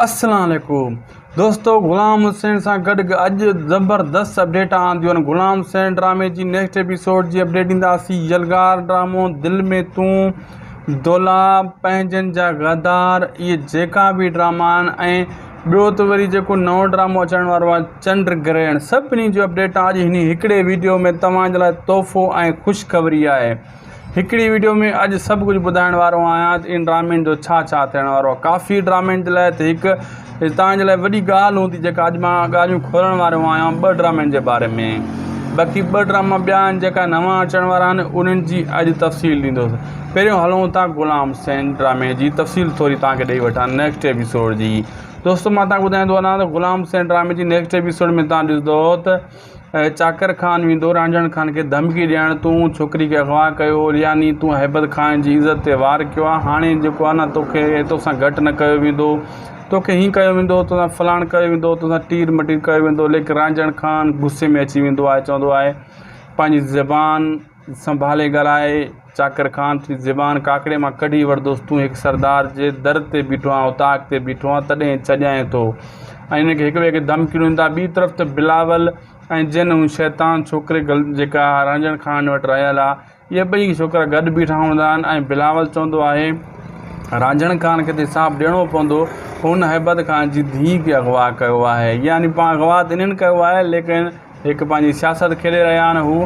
السلام عليڪم دوستو غلام حسين سان گڏ اڄ زبردست اپڊيٽ آنديون آهن غلام حسين ڊرامي جي نيڪسٽ ايپيسوڊ جي اپڊيٽ ڏينداسين يلغار ڊرامو دل ۾ تون دولا پنهنجن جا غدار اهي جيڪا به ڊراما آهن ۽ ٻيو ته وري جيڪو نئون ڊرامو اچڻ وارو آهي چنڊ گرهڻ سڀني جو اپڊيٽ اڄ هن هڪڙي ويڊيو ۾ توهان جي لاء تحفو ۽ خوشخبري آهي هڪڙي وڊيو ۾ اڄ سڀ ڪجهه ٻڌائڻ وارو آهيان ته ان ڊرامين جو ڇا ڇا ٿيڻ وارو آهي ڪافي ڊرامين جي لاء ته هڪ توهان جي لاء وڏي ڳالهه هوندي جيڪا اڄ مان ڳالهيون کولڻ وارو آهيان ٻه ڊرامين جي باري ۾ باقي ٻه ڊراما ٻيا آهن جيڪا نوان اچڻ وارا آهن انهن جي اڄ تفصيل ڏيندوس پهريون هلون ٿا غلام حسين ڊرامي جي تفصيل ٿوري توهان کي ڏئي وٺان نيڪسٽ ايپيسوڊ جي دوستو مان توهان کي ٻڌائيندو هلان ته غلام حسين ڊرامي جي نيڪسٽ ايپيسوڊ ۾ توهان ڏسندو ته چاڪر خان ويندو، رانجهڻ خان کي ڌمڪي ڏيڻ، تون ڇوڪري کي اغوا ڪيو هو، يعني تون هيبت خان جي عزت تي وار ڪيو آهي، هاڻي جيڪو آهي نه توکي توسان گهٽ نه ڪيو ويندو، توکي هيئن ڪيو ويندو، توسان فلاڻ ڪيو ويندو، توسان ٽير مٽير ڪيو ويندو، ليڪن رانجهڻ خان غصي ۾ اچي ويندو آهي، چوندو آهي پنهنجي زبان. سنڀالي ڳالهائي چاڪر خان ٿي زبان ڪاڪڙي مان ڪڍي ورتوس، تون هڪ سردار جي در تي بيٺو آهين، اوطاق تي بيٺو آهين، تڏهن ڇڄائين ٿو ۽ هن کي هڪ ٻئي کي ڌمڪيون ڏين ٿا. ٻي طرف ته بلاول ۽ جنھن هن شيطان ڇوڪري جيڪا رانجهڻ خان وٽ رهيل آ، اهي ٻئي ڇوڪرا گڏ بيٺا هوندا آهن ۽ بلاول چوندو آهي، رانجهڻ خان کي ته حساب ڏيڻو پوندو، هن هيبت خان جي ڌيء کي اغوا ڪيو آهي، يعني پاڻ اغوا ته انهن ڪيو آهي، ليڪن. هڪ پنهنجي سياست کيڏي رهيا آهن هو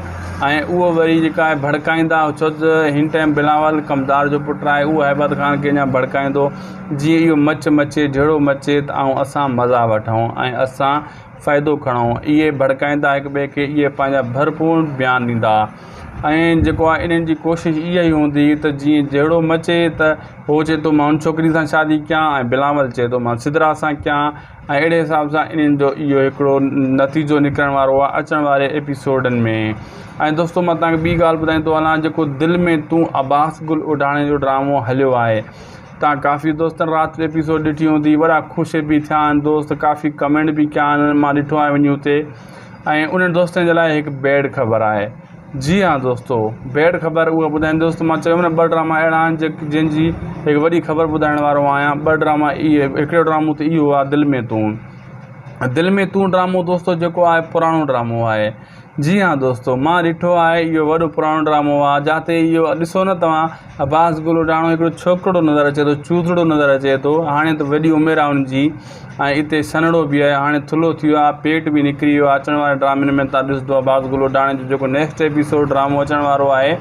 ۽ اهو وري جيڪا آهي ڀڙڪائيندا ڇو ته هن ٽائيم بلاول ڪمدار جو پٽ آهي اهو هيبت خان کي اڃان ڀڙڪائيندو جيئن اهو مچ مچي جهڙو مچي ته آئون اسان مزا وٺون ۽ اسان فائدو کڻون اهي ڀڙڪائيندا هڪ ٻئي کي اهي پنهنجا ڀرپور بيان ڏيندا ۽ جيڪو آهي انهن جي ڪوشش اها ئي هوندي ته جيئن جهڙو مچي ته هو چئي ٿو مان ان ڇوڪري سان شادي ڪيان ۽ بلاول چئي ٿو مان سدرا سان ڪيان ۽ اهڙي حساب سان انهن جو اهو هڪڙو نتيجو نڪرڻ وارو آهي اچڻ واري ايپيسوڊن ۾ ۽ دوستو مان تهانکي ٻي ڳالهه ٻڌائي ٿو هلان جيڪو دل ۾ تون عباس گل اڍاڻي جو ڊرامو هليو آهي تهان ڪافي دوستن رات جو ايپيسوڊ ڏٺي هوندي وڏا خوش به ٿيا آهن دوست ڪافي ڪمينٽ به ڪيا آهن مان ڏٺو آهي وڃي اتي ۽ انهن دوستن جي لاء هڪ بيڊ خبر آهي جي ھا دوستو بيڊ خبر اھا ٻڌائين دوستو مان چيو نه ٻه ڊراما اھڙا آھن جنھن جي ھڪ وڏي خبر ٻڌائڻ وارو آھيان ٻه ڊراما اھي ھڪڙو ڊرامو ته اھو آھي دل مين تون دل مين تون ڊرامو دوستو جيڪو آھي پراڻو ڊرامو آھي جي ھا دوستو مان ڏٺو آھي اھو وڏو پراڻو ڊرامو آھي جاتي اھو ڏسو نه توھان عباس گلوٽاڻو ھڪڙو ڇوڪرڙو نظر اچي ٿو چوڌڙو نظر اچي ٿو ھاڻي ته وڏي عمر آھي ان جي ۽ اتي سنهڙو به آهي هاڻي ٿلهو ٿي ويو آهي پيٽ به نڪري ويو آهي اچڻ واري ڊرامن ۾ تان ڏسدو عباس گل اڍاڻي جو جيڪو نيڪسٽ ايپيسوڊ ڊرامو اچڻ وارو آهي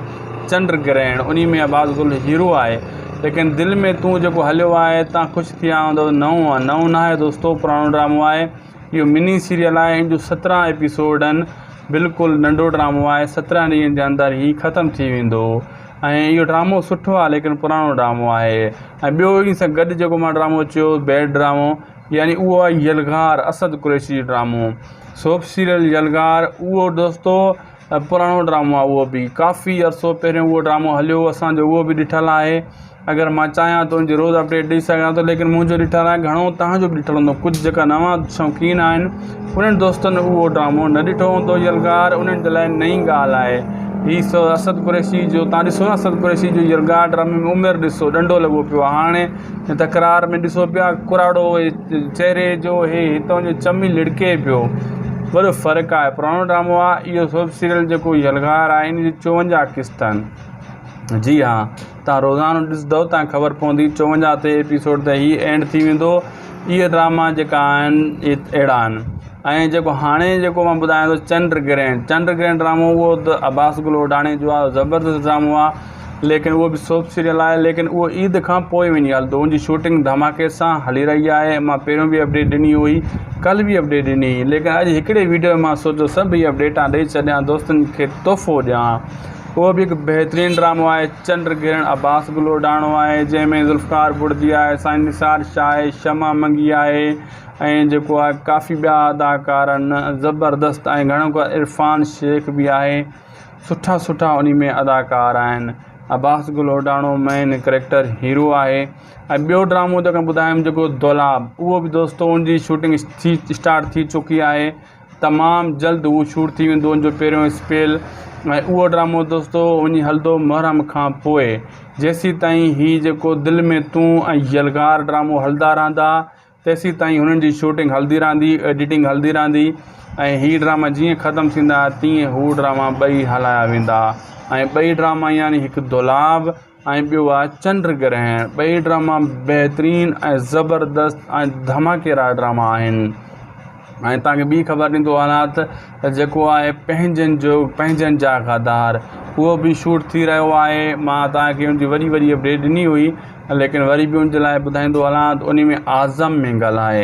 چنڊ گرهڻ انهي ۾ عباس گل هيرو آهي ليڪن دل ۾ تون جيڪو هليو آهي تان خوش ٿيا هوندو نئون آهي نئون نه آهي دوستو پراڻو ڊرامو آهي اهو مني سيريل آهي ان جو سترهن ايپيسوڊ آهن بلڪل ننڍو ڊرامو آهي سترهن ڏينهن جي اندر هي ختم ٿي ويندو ۽ اهو ڊرامو سٺو آهي ليڪن پراڻو ڊرامو آهي ۽ ٻيو ان سان گڏ جيڪو مان ڊرامو چيو بيڊ ڊرامو يعني اهو آهي يلغار اسد قريشي جو ڊرامو سوپ سيريل يلغار اهو دوستو پراڻو ڊرامو آهي اهو بي ڪافي عرصو پهريون اهو ڊرامو هليو اسان جو اهو بي ڏٺل آهي اگر مان چاهيان ته ان جي روز اپڊيٽ ڏئي سگهان ٿو ليڪن منهنجو ڏٺل آهي گهڻو تهان جو بي ڏٺل هوندو ڪجهه جيڪا نوان شوقين آهن انهن دوستن اهو ڊرامو نه ڏٺو هوندو يلغار انهن جي لاء نئين ڳالهه آهي هي اسد قريشي جو تان ڏسو نه اسد قريشي جو يلغار ڊرامي ۾ عمر ڏسو ڏنڊو لڳو پيو آهي هاڻي هن تڪرار ۾ ڏسو پيا ڪراڙو چهري جو هي هتان جو چمي لڙڪي پيو وڏو فرق آهي پراڻو ڊرامو آهي اهو سوپ سيريل جيڪو يلغار آهي ان جي چوونجاهه قسط آهن جي ها توهان روزانو ڏسدؤ توهان کي خبر پوندي چوونجاهه تي ايپيسوڊ تي هي اينڊ ٿي ويندو اهي ڊراما جيڪا آهن اهي اهڙا آهن ۽ جيڪو هاڻي جيڪو مان ٻڌايان ٿو چنڊ گرهڻ چنڊ گرهڻ ڊرامو اهو ته عباس گل اوڍاڻي جو آهي زبردست ڊرامو آهي ليڪن اهو به سوپ سيريل آهي ليڪن اهو عيد کان پوء وڃي هلندو ان جي شوٽنگ ڌماڪي سان هلي رهي آهي مان پهريون به اپڊيٽ ڏني هئي ڪل به اپڊيٽ ڏني هئي ليڪن اڄ هڪڙي ويڊيو ۾ مان سوچيو سڀ هي اپڊيٽان ڏئي ڇڏيان دوستن کي تحفو ڏيان اهو به هڪ بهترين ڊرامو آهي چنڊ گرهڻ عباس گل اوڍاڻو آهي جنهن ۾ ذوالفقار بڙدي آهي سائين نثار شاهه آهي شمع منگي آهي ۽ جيڪو آهي ڪافي ٻيا اداڪار آهن زبردست ۽ گهڻو ڪو عرفان شيخ به آهي سٺا سٺا انهي ۾ اداڪار آهن Abbas Gul Odhano main character hero آهي ۽ ٻيو ڊرامو جيڪو ٻڌايم جيڪو دولاب اهو به دوستو ان جي شوٽنگ ٿي اسٽارٽ ٿي چڪي آهي تمام جلد هو شور ٿي ويندو ان جو پهريون اسپيل ۽ اهو ڊرامو دوستو وڃي هلندو محرم کان پوء جيسين تائين هي جيڪو دل ۾ تون ۽ يلغار ڊرامو هلندا رهندا تيسين تائين هنن جي شوٽنگ هلندي رهندي ايڊيٽنگ هلندي رهندي ۽ هي ڊراما جيئن ختم ٿيندا تيئن هو ڊراما ٻئي هلايا ويندا ۽ ٻئي ڊراما يعني هڪ دولاب ۽ ٻيو آهي چنڊ گرهڻ. ٻئي ڊراما بهترين ۽ زبردست ۽ ڌماڪيدار ڊراما آهن ۽ توهان کي ٻي خبر ڏيندو هلان ته جيڪو آهي پنهنجن جو پنهنجن جا غدار اهو به شوٽ ٿي رهيو آهي مان توهان کي ان جي وڏي وڏي اپڊيٽ ڏني هئي ليڪن وري به ان جي لاء ٻڌائيندو هلان ته ان ۾ اعظم مينگل آهي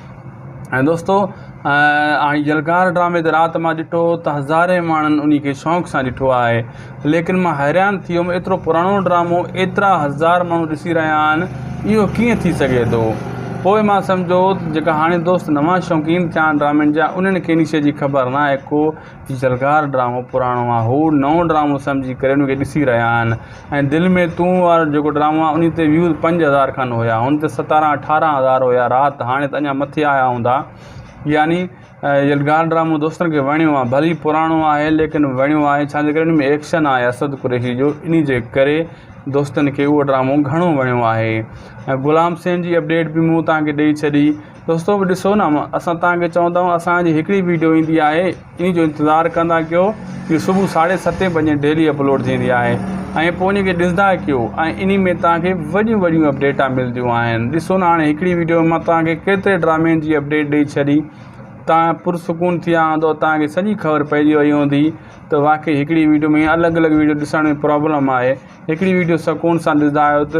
۽ دوستو هاڻي جلکار ڊرامي تي رات مان ڏٺو ته هزارين ماڻهن انهي کي شوق سان ڏٺو آهي ليڪن مان حيران ٿي ويم ايترو پراڻو ڊرامو ايترا هزار ماڻهو ڏسي رهيا آهن اهو ڪيئن ٿي سگهي ٿو پوء مان سمجهيو ته جيڪا هاڻي دوست نوان شوقين ٿيا آهن ڊرامن جا انهن کي انهي شي جي خبر ناهي ڪو جي جلگار ڊرامو پراڻو آ هو نئون ڊرامو سمجهي ڪري ان کي ڏسي رهيا آهن ۽ دل ۾ تون وارو جيڪو ڊرامو آ ان تي ويوز پنج هزار کن هيا هن تي ستارهن اٺارهن هزار هيا رات هاڻي ته اڃا مٿي آيا هوندا يعني جلگار ڊرامو دوستن کي وڻيو آ ڀلي پراڻو آهي ليڪن وڻيو آهي ڇا جي ڪري ان ۾ ايڪشن آهي اسد قريشي جو انهي جي ڪري دوستن کي اهو ڊرامو گهڻو وڻيو آهي ۽ غلام سين جي اپڊيٽ به مون توهان کي ڏئي ڇڏي دوستو ڏسو نه اسان توهان کي چون ٿا اسان جي هڪڙي ويڊيو ايندي آهي ان جو انتظار ڪندا ڪيو جي صبح ساڍي ستين بجي ڊيلي اپلوڊ ٿيندي آهي ۽ پوء ان کي ڏسندا ڪيو ۽ ان ۾ توهان کي وڏيون وڏيون اپڊيٽا ملديون آهن ڏسو نه هاڻي هڪڙي ويڊيو ۾ مان توهان کي ڪيتري ڊرامين جي اپڊيٽ ڏئي ڇڏي توهان پرسڪون ٿي ويا هوندو توهان کي سڄي خبر پئجي وئي هوندي ته واقعي هڪڙي ويڊيو ۾ الڳ الڳ ويڊيو ڏسڻ ۾ پرابلم آهي هڪڙي ويڊيو سڪون سان ڏسندا آهيو ته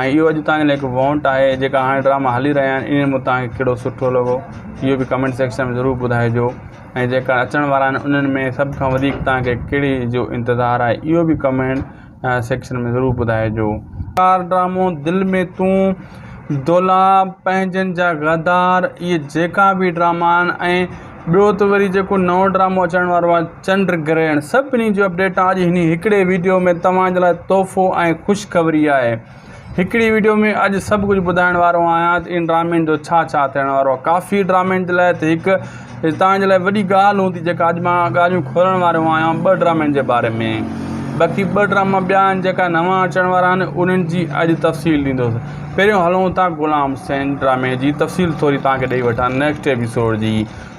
۽ اهو اڄ تائين هڪ وونٽ آهي جيڪا هاڻي ڊراما هلي رهيا آهن انهن مان توهان کي ڪهڙو سٺو لڳو اهو به ڪمينٽ سيڪشن ۾ ضرور ٻڌائجو ۽ جيڪا اچڻ وارا آهن انهن ۾ سڀ کان وڌيڪ توهان کي ڪهڙي جو انتظار آهي اهو به ڪمينٽ سيڪشن ۾ ضرور ٻڌائجو. ڪار ڊرامو دل ۾ تون دولاب پنهنجن جا غدار اهي جيڪا به ڊراما آهن ۽ ٻيو ته وري جيڪو نئون ڊرامو اچڻ وارو آهي چنڊ گرهڻ سڀني جون اپڊيٽ اڄ هن هڪڙي ويڊيو ۾ توهان جي لاء تحفو ۽ خوشخبري آهي هڪڙي ويڊيو ۾ اڄ سڀ ڪجهه ٻڌائڻ وارو آهيان ته ان ڊرامي جو ڇا ڇا ٿيڻ وارو آهي ڪافي ڊرامي جي لاء ته هڪ توهان جي لاء وڏي ڳالهه هوندي جيڪا اڄ مان ڳالهيون کولڻ وارو آهيان ٻه ڊرامن جي باري ۾ باقي ٻه ڊراما ٻيا آهن جيڪا نوان اچڻ وارا آهن انهن جي اڄ تفصيل ڏيندوس پهريون هلون ٿا غلام حسين ڊرامي جي تفصيل ٿوري توهان کي ڏئي وٺان نيڪسٽ ايپيسوڊ جي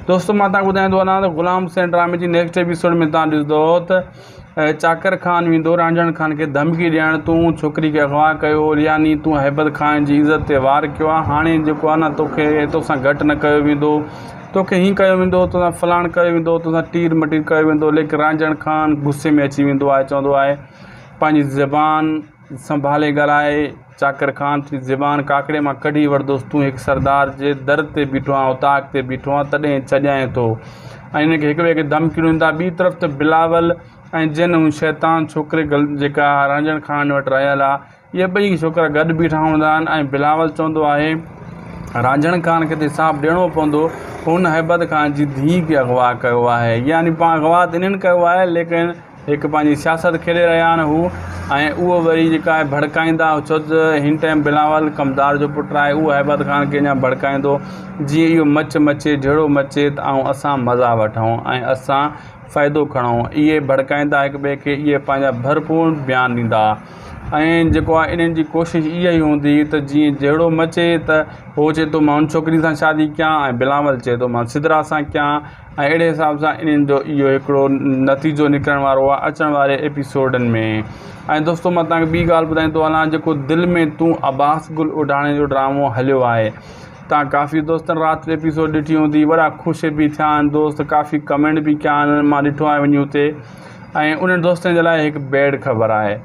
دوستو مان توهان کي ٻڌائيندو هلان ته غلام حسين ڊرامي جي نيڪسٽ ايپيسوڊ ۾ توهان ڏسندو ته چاڪر خان ويندو رانجهڻ خان کي ڌمڪي ڏيڻ تون ڇوڪري کي اغوا ڪيو هو يعني تون هيبت خان جي عزت تي وار ڪيو آهي هاڻي جيڪو آهي نه توکي توسان گهٽ نه ڪيو ويندو توکي هين ڪيو ويندو توسان فلاڻ ڪيو ويندو توسان ٽير مٽير ڪيو ويندو ليڪن رانجهڻ خان غصي ۾ اچي ويندو آهي چوندو آهي پنهنجي زبان سنڀالي ڳالهائي چاڪر خان ٿي زبان ڪاڪڙي مان ڪڍي ورتوس تون هڪ سردار جي در تي بيٺو آهين اوطاق تي بيٺو آهين تڏهن ڇڄائين ٿو ۽ هن کي هڪ ٻئي کي ڌمڪيون ڏين ٿا ٻي طرف ته بلاول ۽ جنھن هن شيطان ڇوڪري جيڪا رانجهڻ خان وٽ رهيل آهي اهي ٻئي ڇوڪرا گڏ بيٺا هوندا آهن ۽ بلاول چوندو آهي رانجهڻ خان کي ته حساب ڏيڻو پوندو هن هيبت خان جي ڌيء کي اغوا ڪيو آهي يعني پاڻ اغوا ته انهن ڪيو آهي ليڪن هڪ پنهنجي سياست کيڏي رهيا آهن هو ۽ اهو وري جيڪا آهي ڀڙڪائيندا ڇو ته هن ٽائيم بلاول ڪمدار جو پٽ آهي اهو هيبت خان کي اڃان ڀڙڪائيندو جيئن اهو مچ مچي جهيڙو مچي ته آئون اسان مزا وٺون ۽ اسان فائدو کڻون اهي ڀڙڪائيندا هڪ ٻئي کي اهي پنهنجا ڀرپور بيان ڏيندا ۽ جيڪو آهي انهن جي ڪوشش اها ئي هوندي ته جيئن جهيڙو مچي ته هو چئي ٿو مان ان ڇوڪري سان شادي ڪيان ۽ بلاول چئي ٿو مان سدرا سان ڪيان ۽ اهڙي حساب سان انهن جو اهو هڪڙو نتيجو نڪرڻ وارو آهي اچڻ واري ايپيسوڊن ۾ ۽ دوستو مان تهانکي ٻي ڳالهه ٻڌائي ٿو هلان جيڪو دل ۾ تون عباس گل اڍاڻي جو ڊرامو هليو آهي تهان ڪافي دوستن رات جو ايپيسوڊ ڏٺي هوندي وڏا خوش به ٿيا آهن دوست ڪافي ڪمينٽ به ڪيا آهن مان ڏٺو آهي وڃي اتي ۽ انهن دوستن جي لاء هڪ بيڊ خبر آهي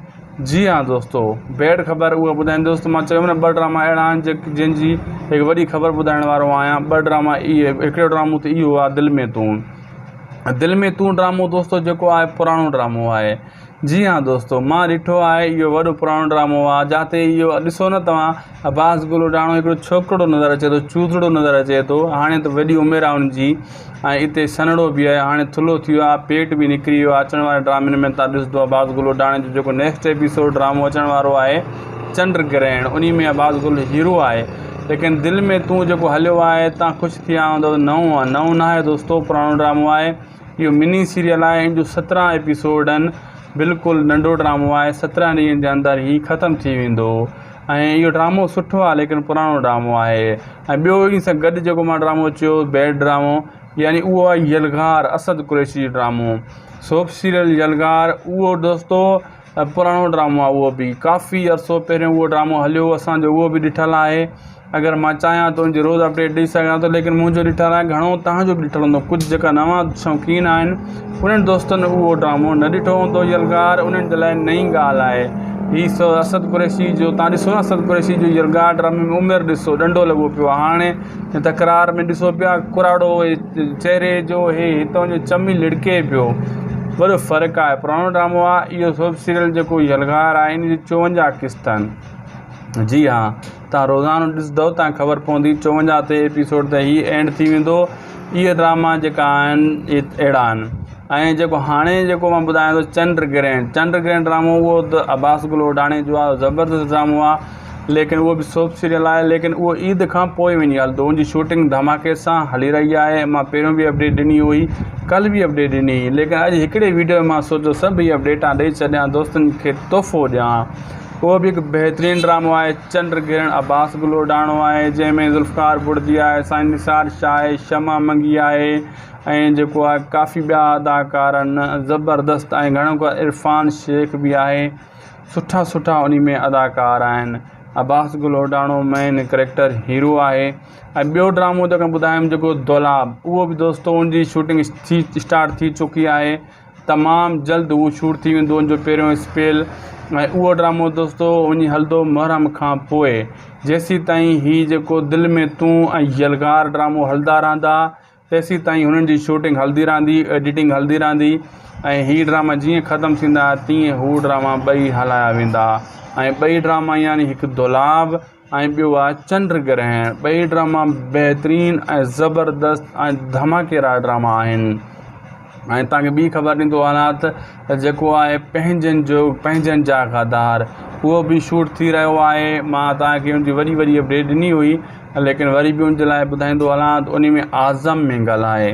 جي ھا دوستو بيڊ خبر اھو ٻڌائين دوستو مان چيو نه ٻه ڊراما اھڙا آھن جن جي ھڪ وڏي خبر ٻڌائڻ وارو آھيان ٻه ڊراما اھي ھڪڙو ڊرامو ته اھو آھي دل مين تون دل مين تون ڊرامو دوستو جيڪو آھي پراڻو ڊرامو آھي جي ھا دوستو مان ڏٺو آھي اھو وڏو پراڻو ڊرامو آھي جاتي اھو ڏسو نه توھان عباس گلوٽاڻو ھڪڙو ڇوڪرڙو نظر اچي ٿو چوڌڙو نظر اچي ٿو ھاڻي ته وڏي عمر آھي ان جي ۽ اتي سنهڙو به آهي هاڻي ٿلهو ٿي ويو آهي پيٽ به نڪري ويو آهي اچڻ واري ڊرامن ۾ تان ڏسدو آهي باز گل اڊاڻي جو جيڪو نيڪسٽ ايپيسوڊ ڊرامو اچڻ وارو آهي چنڊ گرهڻ انهي ۾ باز گل هيرو آهي ليڪن دل ۾ تون جيڪو هليو آهي تان خوش ٿي آيا هوندا نئون آهي نئون نه آهي دوستو پراڻو ڊرامو آهي اهو مني سيريل آهي ان جو سترهن ايپيسوڊ آهن بلڪل ننڍو ڊرامو آهي سترهن ڏينهن جي اندر هي ختم ٿي ويندو ۽ اهو ڊرامو سٺو آهي ليڪن پراڻو ڊرامو آهي ۽ ٻيو ان سان گڏ جيڪو مان ڊرامو چيو بيڊ ڊرامو يعني اهو آهي يلغار اسد قريشي جو ڊرامو سوپ سيريل يلغار اهو دوستو پراڻو ڊرامو آهي اهو بي ڪافي عرصو پهريون اهو ڊرامو هليو اسان جو اهو بي ڏٺل آهي اگر مان چاهيان ته ان جي روز اپڊيٽ ڏئي سگهان ٿو ليڪن منهنجو ڏٺل آهي گهڻو تهان جو بي ڏٺل هوندو ڪجهه جيڪا نوان شوقين آهن انهن دوستن اهو ڊرامو نه ڏٺو هوندو يلغار انهن جي لاء نئين ڳالهه آهي هي سو اسد قريشي جو تان ڏسو نه اسد قريشي جو يلغار ڊرامي ۾ عمر ڏسو ڏنڊو لڳو پيو آهي هاڻي هن تڪرار ۾ ڏسو پيا ڪراڙو چهري جو هي هتان جو چمي لڙڪي پيو وڏو فرق آهي پراڻو ڊرامو آهي اهو سوپ سيريل جيڪو يلغار آهي ان جي 54 قسط آهن جي ها تان روزانو ڏسدؤ تان خبر پوندي چوونجاهه تي ايپيسوڊ ته هي اينڊ ٿي ويندو اهي ڊراما جيڪا آهن اهي اهڙا آهن ۽ جيڪو هاڻي جيڪو مان ٻڌايان ٿو چنڊ گرهڻ چنڊ گرهڻ ڊرامو اهو ته عباس گل اوڍاڻي جو آهي زبردست ڊرامو آهي ليڪن اهو به سوپ سيريل آهي ليڪن اهو عيد کان پوء وڃي هلندو ان جي شوٽنگ ڌماڪي سان هلي رهي آهي مان پهريون به اپڊيٽ ڏني هئي ڪل به اپڊيٽ ڏني هئي ليڪن اڄ هڪڙي ويڊيو مان سوچو سڀ هي اپڊيٽان ڏئي ڇڏيان دوستن کي تحفو ڏيان اهو به هڪ بهترين ڊرامو آهي چنڊ گرهڻ عباس گلوڙاڻو آهي جنهن ۾ ذوالفقار بڙدي آهي سائين نثار شاهه آهي شمع منگي آهي ۽ جيڪو آهي ڪافي ٻيا اداڪار آهن زبردست ۽ گهڻو ڪري عرفان شيخ به آهي سٺا سٺا انهي ۾ اداڪار آهن عباس گلوڙاڻو مين ڪريڪٽر هيرو آهي ۽ ٻيو ڊرامو جيڪو ٻڌايم جيڪو دولاب اهو به دوستو ان جي شوٽنگ ٿي اسٽارٽ ٿي چڪي آهي تمام جلد هو شور ٿي ويندو ان جو پهريون اسپيل ۽ اهو ڊرامو دوستو وڃي هلندو محرم کان پوء جيسين تائين هي جيڪو دل ۾ تون ۽ يلغار ڊرامو هلندا رهندا تيسين تائين هنن جي شوٽنگ هلندي رهندي ايڊيٽنگ هلندي رهندي ۽ هي ڊراما جيئن ختم ٿيندا تيئن هو ڊراما ٻئي هلايا ويندا ۽ ٻئي ڊراما يعني هڪ دولاب ۽ ٻيو آهي چنڊ گرهڻ. ٻئي ڊراما بهترين ۽ زبردست ۽ ڌماڪيدار ڊراما آهن ۽ توهان کي ٻي خبر ڏيندو هلان ته جيڪو آهي پنهنجن جو پنهنجن جا غدار اهو به شوٽ ٿي رهيو آهي مان توهان کي ان جي وڏي وڏي اپڊيٽ ڏني هئي ليڪن وري به ان جي لاء ٻڌائيندو هلان ته ان ۾ اعظم مينگل آهي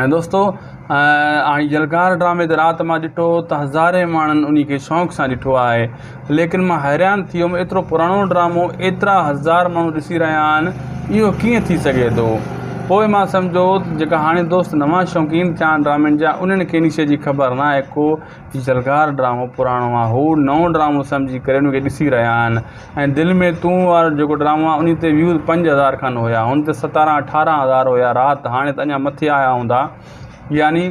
۽ دوستو هاڻي يلغار ڊرامي تي رات مان ڏٺو ته هزارين ماڻهن انهي کي شوق سان ڏٺو آهي ليڪن مان حيران ٿي ويم ايترو پراڻو ڊرامو ايترا هزار ماڻهو ڏسي رهيا آهن اهو ڪيئن ٿي سگهي ٿو پوء مان سمجهو ته جيڪا هاڻي دوست نوان شوقين ٿيا آهن ڊرامن جا انهن کي انهي شئي جي خبر ناهي ڪو جي زرگار ڊرامو پراڻو آ هو نئون ڊرامو سمجهي ڪري ان کي ڏسي رهيا آهن ۽ دل ۾ تون وارو جيڪو ڊرامو آ انهي تي ويوز پنج هزار کن هيا هن تي ستارهن اٺارهن هزار هيا رات هاڻي ته اڃا مٿي آيا هوندا يعني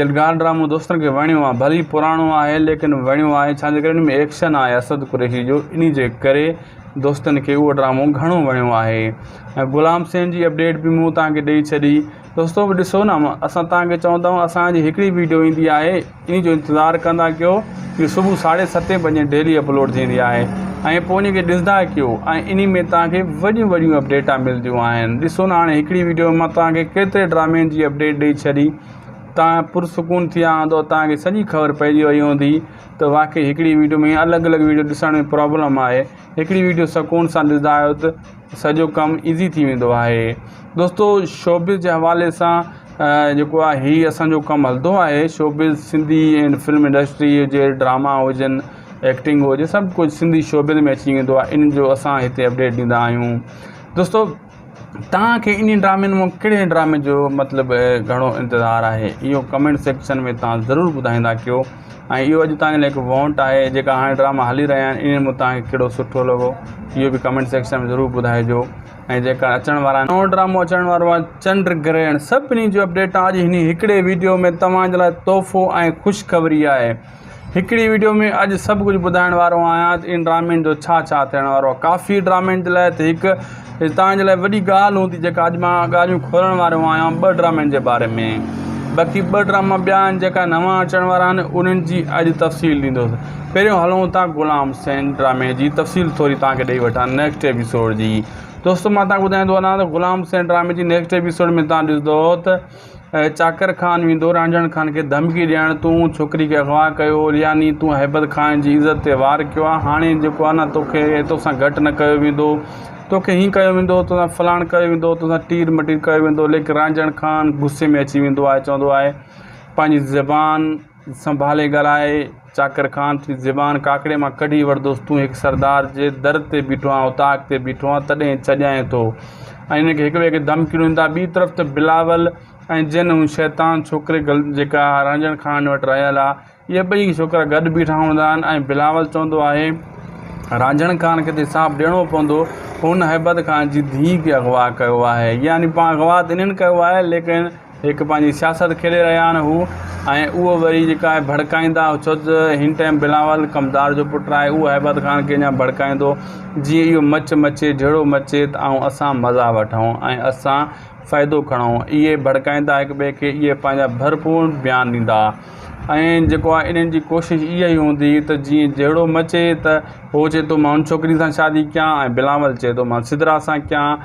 يلغار ڊرامو دوستن کي وڻيو آ ڀلي پراڻو آهي ليڪن وڻيو آهي ڇا جي ڪري ان ۾ ايڪشن آهي اسد قريشي جو انهي جي ڪري دوستن کي اهو ڊرامو گهڻو وڻيو آهي ۽ غلام سين جي اپڊيٽ به مون توهان کي ڏئي ڇڏي دوستو ڏسو نه اسان توهان کي چون ٿا اسان جي هڪڙي ويڊيو ايندي آهي ان جو انتظار ڪندا ڪيو جو صبح ساڍي ستين بجي ڊيلي اپلوڊ ٿيندي آهي ۽ پوء ان کي ڏسندا ڪيو ۽ ان ۾ توهان کي وڏيون وڏيون اپڊيٽا ملديون آهن ڏسو نه هاڻي هڪڙي ويڊيو ۾ مان توهان کي ڪيتري ڊرامين جي اپڊيٽ ڏئي ڇڏي توهان پرسڪون ٿي ويا هوندو توهان کي سڄي خبر پئجي وئي هوندي ته واقعي هڪڙي ويڊيو ۾ الڳ الڳ ويڊيو ڏسڻ ۾ پرابلم آهي هڪڙي ويڊيو سڪون سان ڏسندا آهيو ته سڄو ڪم ايزي ٿي ويندو آهي دوستو شوبز جي حوالي سان جيڪو آهي هي اسانجو ڪم هلندو آهي شوبز سنڌي ۽ فلم انڊسٽري جي ڊراما هجن ايڪٽنگ هجي سڀ ڪجهه سنڌي شوبز ۾ اچي ويندو آهي ان جو اسان هتي اپڊيٽ ڏيندا آهيون دوستو توهان کي انهن ڊرامن مان ڪهڙي ڊرامي جو مطلب گهڻو انتظار آهي اهو ڪمينٽ سيڪشن ۾ توهان ضرور ٻڌائيندا ڪيو ۽ اهو اڄ توهان جي لاء هڪ وونٽ آهي جيڪا هاڻي ڊراما هلي رهيا آهن انهن مان توهان کي ڪهڙو سٺو لڳو اهو به ڪمينٽ سيڪشن ۾ ضرور ٻڌائجو ۽ جيڪا اچڻ وارا آهن نئون ڊرامو اچڻ وارو آهي چنڊ گرهڻ سڀني جو اپڊيٽ اڄ هن هڪڙي ويڊيو ۾ توهان جي لاء تحفو ۽ خوشخبري آهي هڪڙي وڊيو ۾ اڄ سڀ ڪجهه ٻڌائڻ وارو آهيان ته ان ڊرامين جو ڇا ڇا ٿيڻ وارو آهي ڪافي ڊرامين جي لاء ته هڪ توهان جي لاء وڏي ڳالهه هوندي جيڪا اڄ مان ڳالهيون کولڻ وارو آهيان ٻه ڊرامين جي باري ۾ باقي ٻه ڊراما ٻيا آهن جيڪا نوان اچڻ وارا آهن انهن جي اڄ تفصيل ڏيندوس پهريون هلون ٿا غلام حسين ڊرامي جي تفصيل ٿوري توهان کي ڏئي وٺان نيڪسٽ ايپيسوڊ جي دوستو مان توهان کي ٻڌائيندو هلان ته غلام حسين ڊرامي جي نيڪسٽ ايپيسوڊ ۾ توهان ڏسندو ته چاڪر خان ويندو رانجهڻ خان کي ڌمڪي ڏيڻ تون ڇوڪري کي اغوا ڪيو هو يعني تون هيبت خان جي عزت تي وار ڪيو آهي هاڻي جيڪو آهي نه توکي توسان گهٽ نه ڪيو ويندو توکي هين ڪيو ويندو توسان فلاڻ ڪيو ويندو توسان ٽير مٽير ڪيو ويندو ليڪن رانجهڻ خان غصي ۾ اچي ويندو آهي چوندو آهي پنهنجي زبان سنڀالي ڳالهائي چاڪر خان ٿي زبان ڪاڪڙي مان ڪڍي ورتوس، تون هڪ سردار جي در تي بيٺو آهين، اوطاق تي بيٺو آهين، تڏهن ڇڄائين ٿو؟ ۽ هن کي هڪ ٻئي کي ڌمڪيون ڏندا. ٻي طرف ته بلاول ۽ جنھن هن شيطان ڇوڪري جيڪا رانجهڻ خان وٽ رهيل آ، اهي ٻئي ڇوڪرا گڏ بيٺا هوندا آهن ۽ بلاول چوندو آهي، رانجهڻ خان کي ته حساب ڏيڻو پوندو، هن هيبت خان جي ڌيء کي اغوا ڪيو آهي، يعني پاڻ اغوا ته انهن ڪيو آهي، ليڪن. هڪ پنهنجي سياست کيڏي رهيا آهن هو ۽ اهو وري جيڪا آهي ڀڙڪائيندا ڇو ته هن ٽائيم بلاول ڪمدار جو پٽ آهي اهو هيبت خان کي اڃا ڀڙڪائيندو جيئن اهو مچ مچي جهڙو مچي ته آئون اسان مزا وٺون ۽ اسان فائدو کڻون اهي ڀڙڪائيندا هڪ ٻئي کي اهي پنهنجا ڀرپور بيان ڏيندا ۽ جيڪو آهي انهن جي ڪوشش اها ئي هوندي ته جيئن جهڙو مچي ته هو چئي ٿو مان ان ڇوڪري سان شادي ڪيان ۽ بلاول چئي ٿو مان سدرا سان ڪيان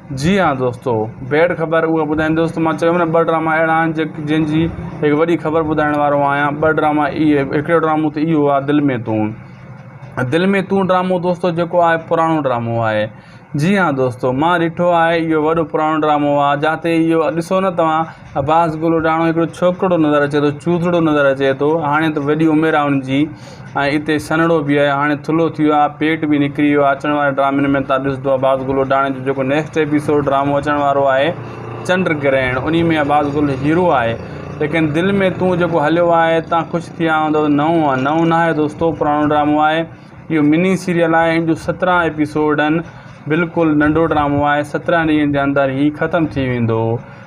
جي ھا دوستو بيڊ خبر اھا ٻڌائين دوستو مان چيو نه ٻه ڊراما اھڙا آھن جي جن جي ھڪ وڏي خبر ٻڌائڻ وارو آھيان ٻه ڊراما اھي ھڪڙو ڊرامو ته اھو آھي دل مين تون دل مين تون ڊرامو دوستو جيڪو آھي پراڻو ڊرامو آھي جي ھا دوستو مان ڏٺو آھي اھو وڏو پراڻو ڊرامو آھي جاتي اھو ڏسو نه توھان عباس گلوڏاڻو هڪڙو ڇوڪرڙو نظر اچي ٿو چوڌڙو نظر اچي ٿو هاڻي ته وڏي عمر آ ان جي ۽ اتي سنهڙو به آ هاڻي ٿلهو ٿي ويو آ پيٽ به نڪري ويو آ اچڻ واري ڊرامن ۾ تان ڏسدو عباس گلوڏاڻي جو جيڪو نيڪسٽ ايپيسوڊ ڊرامو اچڻ وارو آهي چنڊ گرهڻ انهي ۾ عباس گل هيرو آهي ليڪن دل ۾ تون جيڪو هليو آهي تان خوش ٿيا هوندو نئون آ نئون ناهي دوستو پراڻو ڊرامو آهي اهو مني سيريل آهي ان جو سترهن ايپيسوڊ ان بلڪل ننڍو ڊرامو آهي سترهن ڏينهن جي اندر هي ختم ٿي ويندو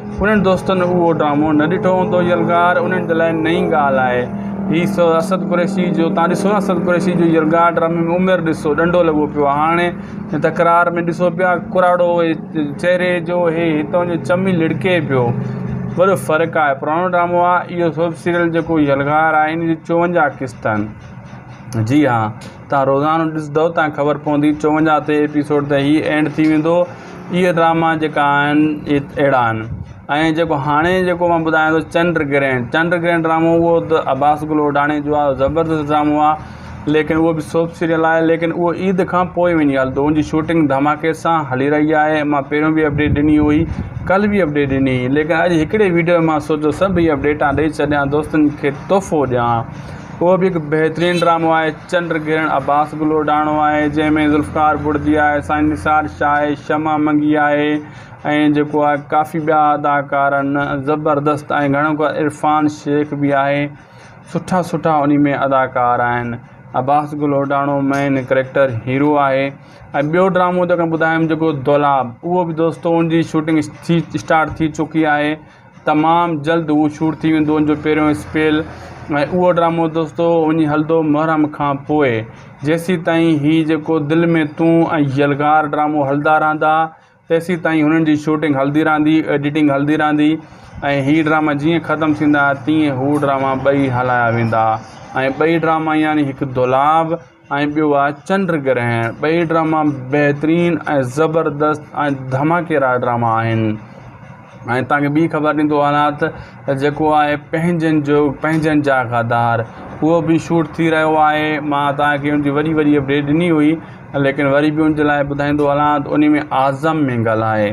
انهن دوستن اهو ڊرامو نه ڏٺو هوندو يلغار انهن جي لاء نئين ڳالهه آهي هي سو اسد قريشي جو توهان ڏسو نه اسد قريشي جو يلغار ڊرامي ۾ عمر ڏسو ڏنڊو لڳو پيو آهي هاڻي هن تڪرار ۾ ڏسو پيا ڪراڙو چهري جو هي هتان جو چمي لڙڪي پيو وڏو فرق آهي پراڻو ڊرامو آهي اهو سوپ سيريل جيڪو يلغار آهي ان جي 54 قسط آهن جي ها تان روزانو ڏسدؤ تان خبر پوندي چوونجاهه تي ايپيسوڊ ته هي اينڊ ٿي ويندو اهي ڊراما جيڪا آهن اهي اهڙا آهن ۽ جيڪو هاڻي جيڪو مان ٻڌايان ٿو چنڊ گرهڻ چنڊ گرهڻ ڊرامو اهو ته عباس گل اوڍاڻي جو آهي زبردست ڊرامو آهي ليڪن اهو به سوپ سيريل آهي ليڪن اهو عيد کان پوء وڃي هلندو ان جي شوٽنگ ڌماڪي سان هلي رهي آهي مان پهريون به اپڊيٽ ڏني هئي ڪل به اپڊيٽ ڏني هئي ليڪن اڄ هڪڙي ويڊيو ۾ مان سوچيو سڀ اهي اپڊيٽان ڏئي ڇڏيان دوستن کي تحفو ڏيان اهو به هڪ بهترين ڊرامو آهي چنڊ گرهڻ عباس گل اڏاڻو آهي جنهن ۾ ذوالفقار بڙدي آهي سائين نثار شاهه آهي شمع منگي آهي ۽ جيڪو آهي ڪافي ٻيا اداڪار آهن زبردست ۽ گهڻو ڪر عرفان شيخ به آهي سٺا سٺا انهي ۾ اداڪار آهن عباس گل اڏاڻو مين ڪريڪٽر هيرو آهي ۽ ٻيو ڊرامو جيڪو ٻڌايم جيڪو دولاب اهو به دوستو ان جي شوٽنگ ٿي اسٽارٽ ٿي چڪي آهي تمام جلد هو شور ٿي ويندو ان جو پهريون اسپيل ۽ اهو ڊرامو دوستو وڃي هلندو محرم کان پوء جيسين تائين هي جيڪو دل ۾ تون ۽ يلغار ڊرامو هلندا رهندا تيسين تائين هنن جي شوٽنگ هلندي رهندي ايڊيٽنگ هلندي رهندي ۽ هي ڊراما جيئن ختم ٿيندا تيئن هو ڊراما ٻئي هلايا ويندا ۽ ٻئي ڊراما يعني هڪ دولاب ۽ ٻيو آهي چنڊ گرهڻ. ٻئي ڊراما بهترين ۽ زبردست ۽ ڌماڪيدار ڊراما آهن ۽ توهان کي ٻي خبر ڏيندو هلان ته جيڪو آهي پنهنجن جو پنهنجن جا غدار اهو به شوٽ ٿي رهيو آهي مان توهان کي ان جي وڏي وڏي اپڊيٽ ڏني هئي ليڪن وري به ان جي لاء ٻڌائيندو هلان ته ان ۾ اعظم مينگل آهي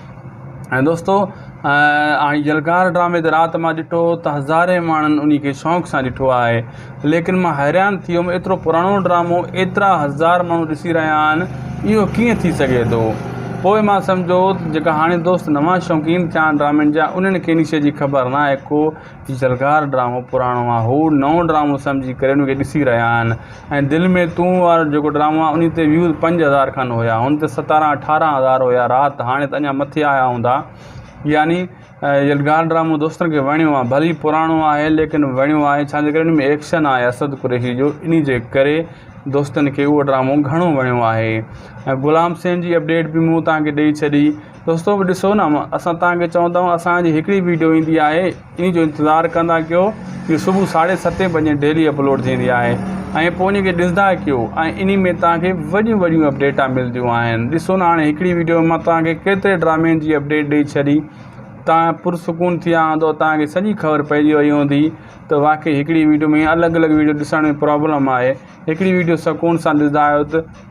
۽ دوستو آئين يلغار ڊرامي تي رات مان ڏٺو هو ته هزارين ماڻهن انهي کي شوق سان ڏٺو آهي ليڪن مان حيران ٿي ويم ايترو پراڻو ڊرامو ايترا هزار ماڻهو ڏسي رهيا آهن اهو ڪيئن ٿي سگهي ٿو پوء مان سمجهو ته جيڪا هاڻي دوست نوان شوقين ٿيا آهن ڊرامن جا انهن کي انهي شئي جي خبر ناهي ڪو زرگار ڊرامو پراڻو آ هو نئون ڊرامو سمجهي ڪري ان کي ڏسي رهيا آهن ۽ دل ۾ تون وارو جيڪو ڊرامو آ انهي تي ويوز پنج هزار کن هيا هن تي ستارهن اٺارهن هزار هيا رات هاڻي ته اڃا مٿي آيا هوندا يعني يلغار ڊرامو دوستن کي وڻيو آ ڀلي پراڻو آهي ليڪن وڻيو آهي ڇا جي ڪري ان ۾ ايڪشن آهي اسد قريشي جو انهي جي ڪري دوستن کي اهو ڊرامو گهڻو وڻيو آهي ۽ غلام سين جي اپڊيٽ به مون توهان کي ڏئي ڇڏي دوستو ڏسو نه اسان توهان کي چون ٿا اسان جي هڪڙي ويڊيو ايندي آهي انهي جو انتظار ڪندا ڪيو جي صبح ساڍي ستين بجي ڊيلي اپلوڊ ٿيندي آهي ۽ پوء ان کي ڏسندا ڪيو ۽ انهي ۾ توهان کي وڏيون وڏيون اپڊيٽا ملديون آهن ڏسو نه هاڻي هڪڙي ويڊيو ۾ مان توهان کي ڪيتري ڊرامين جي اپڊيٽ ڏئي ڇڏي توهان پرسڪون ٿيا هوندو توهان کي سڄي خبر پئجي وئي هوندي ته واقعي هڪڙي ويڊيو ۾ الڳ الڳ ويڊيو ڏسڻ ۾ پرابلم آهي هڪڙي ويڊيو سڪون سان ڏسندا آهيو ته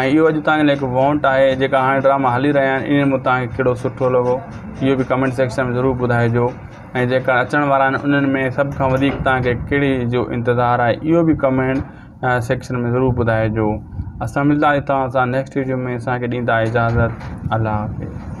۽ اهو اڄ توهان جي لاء هڪ وونٽ آهي جيڪا هاڻي ڊراما هلي رهيا آهن انهن مان توهان کي ڪهڙو سٺو لڳو اهو به ڪمينٽ سيڪشن ۾ ضرور ٻڌائجو ۽ جيڪا اچڻ وارا آهن انهن ۾ سڀ کان وڌيڪ توهان کي ڪهڙي جو انتظار آهي اهو به ڪمينٽ سيڪشن ۾ ضرور ٻڌائجو اسان ملداسين توهان سان نيڪسٽ ويڊيو ۾ اسان کي ڏيندا اجازت الله حافظ